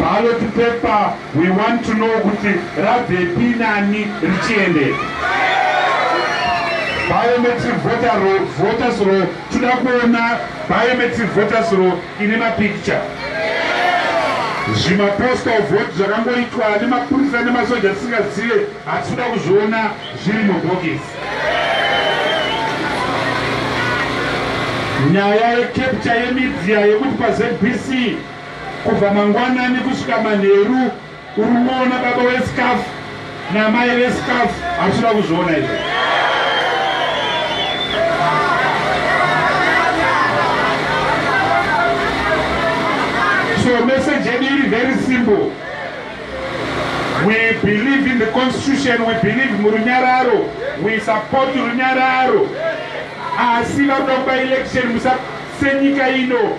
Ballot paper we want to know kuti rabvepi nani richiende. Biometric voter roll, voters roll toda kuona biometric voters roll ine mapicture. Zvimapostal vote zvakangoitwa nemapurisa nemasoja tisingazive hatikuda kuzviona zviri mubhokisi. nyaya yekepcha yemidia yekuti pazbc Kubva mangwanani kusvika manheru uri kuona baba wesikafu namai vesikafu hausida kuzviona izvo so message yedu iri very simple we believe in the constitution we believe murunyararo we support runyararo asi vakuda kuba election musasenyika ino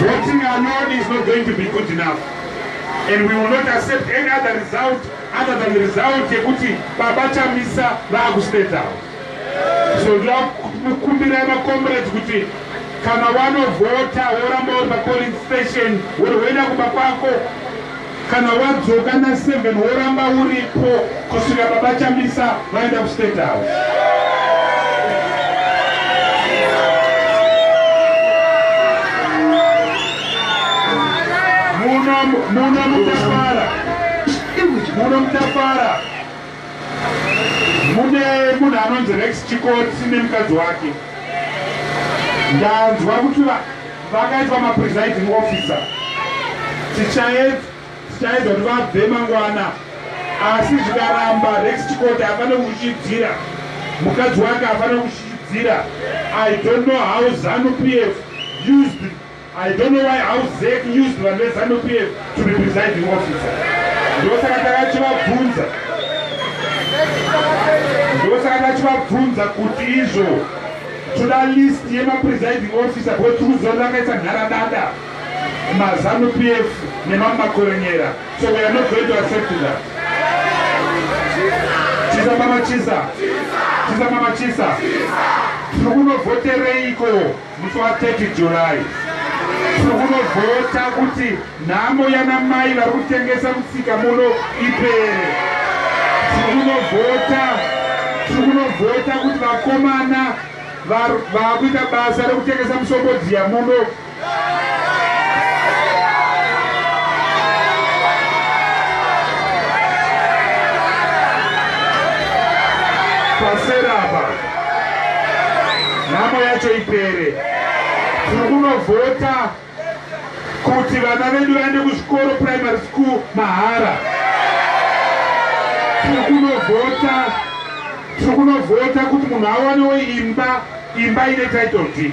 Voting alone is not going to be good enough. And we will not accept any other result other than the result yekuti baba Chamisa vakustate out. So ndokumbira makomrades kuti kana wanovhota woramba uri papoling station wori woenda kumba kwako Kana wadzoka na 7 woramba uripo kusvika baba Chamisa vaenda ku State House. Muno muno mutafara. Muno mutafara. Mune munhu anonzi Rex Chikotsi nemukadzi wake. Ndanzwa kuti vakaitwa mapresiding officer. Tichaedza tichaedza kuti vabve mangwana asi zvikaramba Rex Chikoti afanira kuchidzira mukadzi wake afanira kuchidzira. I don't know how Zanu PF used I don't know why how Zec used vanhu veZanu PF to be presiding officer. Ndosaka takachivabvunza. Ndosaka takachivabvunza kuti izvo toda list yema presiding officer because tiri kuziva vakaisa nharadada maZanu PF nemamwe makorenyera. So we are not going to accept that. Chisa mama chisa. Chisa mama chisa. Tiri kunovhotereiko? musi wa 30 July tiri kunovhota kuti nhamo yana mai vari kutengesa musika muno ipere. Tiri kunovhota tiri kunovhota kuti vakomana vakuita basa rekutengesa musombodziya muno pasera apa nhamo yacho ipere tiri kunovhota kuti vana vedu vaende kuzvikoro primary school mahara tiri kunovhota tiri kunovhota kuti munhu awanewo imba imba ine title deed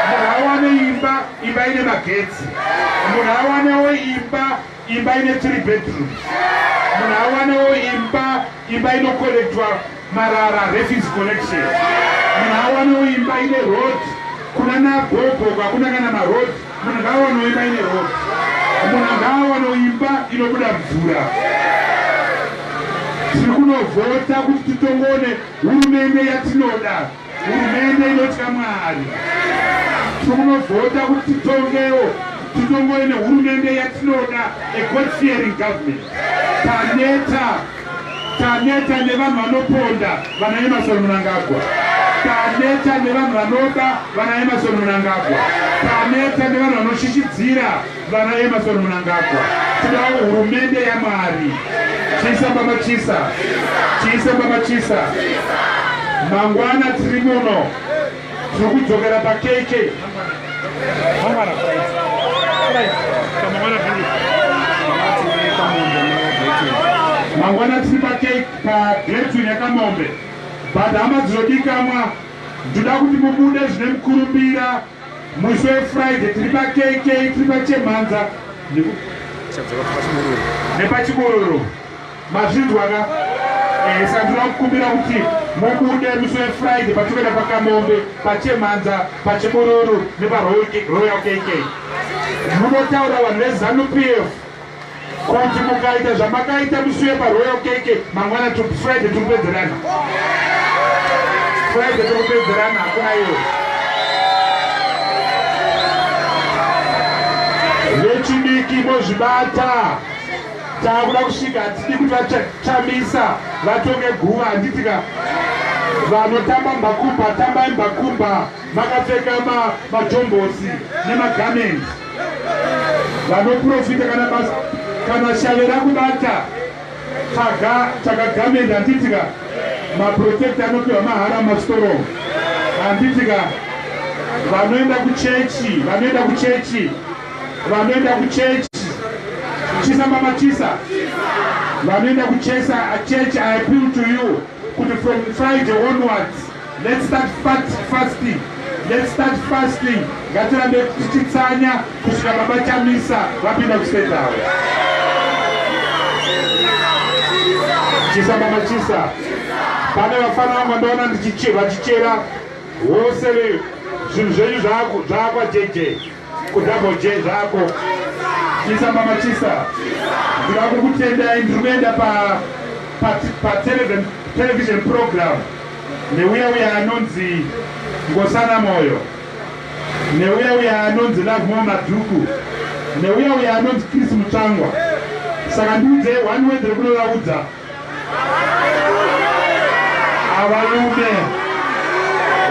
munhu awane imba imba ine magetsi munhu awanewo imba imba ine three bedrooms munhu awanewo imba Imba inokorektwa marara refuse collection. Munhu awanowo imba ine road kuna nagogo kwakuna kana maroad munhu ngaawanowo imba ine road. Munhu ngaawanowo imba inobuda mvura. Tiri kunovhota kuti titongone hurumende yatinoda. Hurumende inotya Mwari. Tiri kunovhota kuti titongewo, titongove nehurumende yatinoda, a God fearing government. Taneta, taneta nevanhu vanoponda vana Emerson Mnangagwa. Taneta nevanhu vanoba vana Emerson Mnangagwa. Taneta nevanhu vanoshishidzira Vana Emerson Mnangagwa, tidawo hurumende yaMwari. Chisa baba chisa, chisa baba chisa. Mangwana tiri muno, tiri kudzokera paKK. Mangwana mangwana tiri pagretu nekamombe but hama dzinodikamwa ndoda kuti mubude zvine mukurumbira Musi weFriday tiri paKK tiri paChemhanza nepaChibururu. Mazvinzwa ka? Eh, saka ndinoda kukumbira kuti mubude musi weFriday patinoenda paKamombe, paChemhanza, paChibururu nepaRoyal KK. Munotaura vanhu veZanu PF. Kuti mukaita zvamakaita musi wepaRoyal KK mangwana to Friday tiri kupedzerana. Friday tiri kupedzerana hakuna iwe. Vechidiki mozvibata. Takuda kusvika hatidi kuti vachamisa vatonge guva handitika vanotamba mbakumba tambai mbakumba makapfeka majombosi nemagamenti vanoprofita kana basa kana shave rakubata taga takagamendi handitika maprotect anopiwa mahara mastoro handitika vanoenda kuchechi vanoenda kuchechi vanoenda kuchechi chisa mama chisa vanoenda kuchesa chechi i appeal to you kuti from friday onwards Let's start fast, fasting. Let's start fasting. Ngatirambe tichitsanya kusvika baba Chamisa vapinda kustate house. Chisa mama chisa. Pane vafana vangu ndaona ndichicheva chichera. Wose zvinhu zvenyu zvakwa JJ. Kudouble J zvako. Chisa mama chisa. Ndinoda kukutendai ndiri kuenda pa pa pa television television program neuya uya anonzi Ngosana Moyo. Neuya uya anonzi Love More Madhuku. Neuya uya anonzi Chris Mutsvangwa. Saka ndiudze one word rekunovaudza Avalume.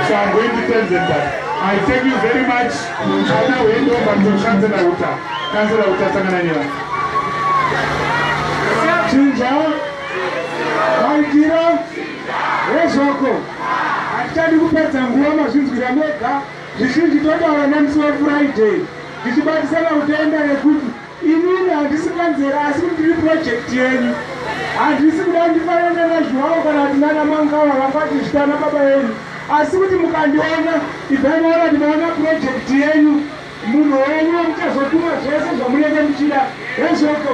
So I'm going to tell them that. I thank you very much. Chana wendo panzo chancellor uta. Chancellor uta sangana nyela. Chinja. Maitira. Rezvako. Hatitadi kupedza nguva mazvinzwira mega. Zvizhinji totaura nemusi weFriday. Ndichibatisana kutenda nekuti Inini handisi kanzera asi kuti ndiri project yenyu. Handisi kuda ndifanane nana Zhuwawo kana kuti nana Mangawa vangati zvita ana baba venyu. Asi kuti mukandiona, ibvai maona kuti maona project yenyu, munhu wenyu wamuchazotuma zvese zvamunenge muchida. Hezvoko.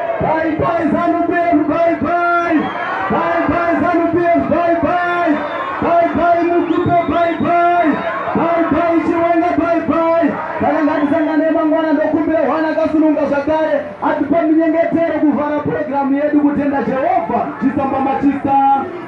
Bye bye Zanu PF, bye bye. Bye bye Zanu PF, bye bye. Bye bye Mukipe, bye bye. Bye bye Chiwenga, bye bye. Kana ngatisangane mangwana ndokumbira hwana akasununga zvakare atipa minyengetero kuvhara purogiramu yedu kutenda Jehovha chisamba machisa.